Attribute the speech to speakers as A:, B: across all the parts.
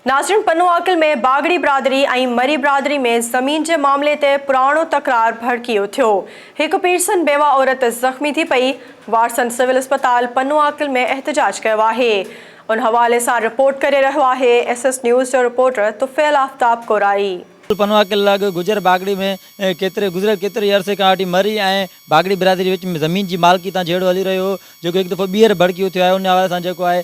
A: ناظرين پنو عاقل ۾ باگڙي برادري ۽ مري برادري ۾ زمين جي معاملي تي پراڻو تڪرار ڀڙڪي اٿيو، هڪ پيرسن بيوه عورت زخمي ٿي پئي، وارثن سول اسپتال پنو عاقل ۾ احتجاج ڪيو آهي، ان حوالي سان رپورٽ ڪري رهيو آهي ايس ايس نيوز جو رپورٽر طفيل آفتاب ڪورائي. پنو عاقل لڳ
B: گجر باگڙي ۾ ڪيتري گذريل ڪيتري ئي عرصي کان وٺي مري ۽ باگڙي برادري وچ ۾ زمين جي مالڪي تان جهيڙو هلي رهيو هو جيڪو هڪ دفعو ٻيهر ڀڙڪي اٿيو آهي ان حوالي سان جيڪو آهي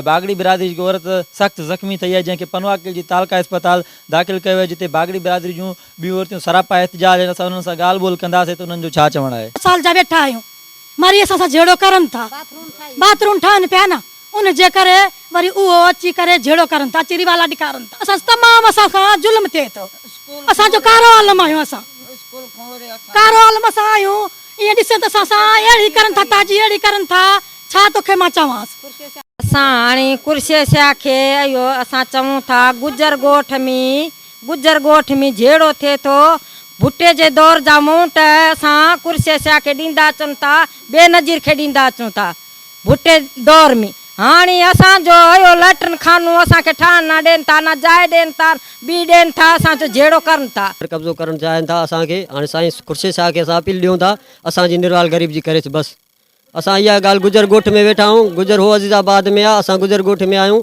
B: باگڙي برادري جي هڪ عورت سخت زخمي ٿئي آهي جنهن کي پنواڪل جي تعلقه اسپتال داخل ڪيو ويو آهي جتي باگڙي برادري جون ٻيون عورتيون سراپا احتجاج ۽ اسان انهن سان ڳالهه ٻولهه ڪنداسين ته انهن جو ڇا چوڻ آهي. ٻه سال جا ويٺا آهيون
C: مري اسان سان جهيڙو ڪرن ٿا باٿرون ٺاهن پيا نه ان جي ڪري وري اهو اچي ڪري جهيڙو ڪرن ٿا اچي روالا ڏيکارن ٿا اسان تمام اسان سان ظلم ٿئي ٿو اسان جو ڪارو عالم آهيون اسان ڪارو عالم اسان آهيون. ايئن ڏسين ته اسان سان اهڙي ڪرن ٿا تاجي اهڙي ڪرن ٿا ڇا توکي مان چوانس. اسان هاڻي
D: ڪرشيشيا کي اهو اسان چون ٿا گجر ڳوٺ ۾ گجر ڳوٺ ۾ جهيڙو ٿئي ٿو ڀٽي جي دور جا مونٽ اسان ڪرشيشيا کي ڏيندا اچن ٿا بينظير کي ڏيندا اچون ٿا ڀٽي دور ۾ هاڻي اسان جو اهو ليٽرن خانو اسان کي ٺاهڻ نه ڏين ٿا نه جاء ڏين ٿا ٻي ڏين ٿا اسان جو جهيڙو ڪرن ٿا. قبضو ڪرڻ چاهين ٿا
E: اسان کي هاڻي سائين خورشيد شاهه کي اسان اپيل ڏيون ٿا اسان جي نروال غريب جي ڪريس بس اسان اها ڳالهه گجر ڳوٺ ۾ ويٺا آهيون گجر هو عزيز آباد ۾ آهي اسان گجر ڳوٺ ۾ آهيون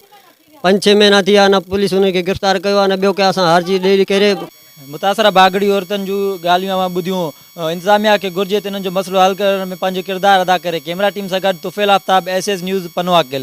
E: پنج ڇهه مهينا ٿي ويا نه پوليس انهن کي گرفتار ڪيو آهي نه ٻيو ڪنهن اسان هارجي ڏيري ڪري. متاثره باگڙي
B: عورتن جون ڳالهيون اوهان ٻڌيون، انتظاميا کي گهرجي ته انهن جو مسئلو حل ڪرڻ ۾ پنهنجو ڪردار ادا ڪري، ڪيمرا ٽيم سان گڏ Tufail Aftab, S S news, Pano Aqil.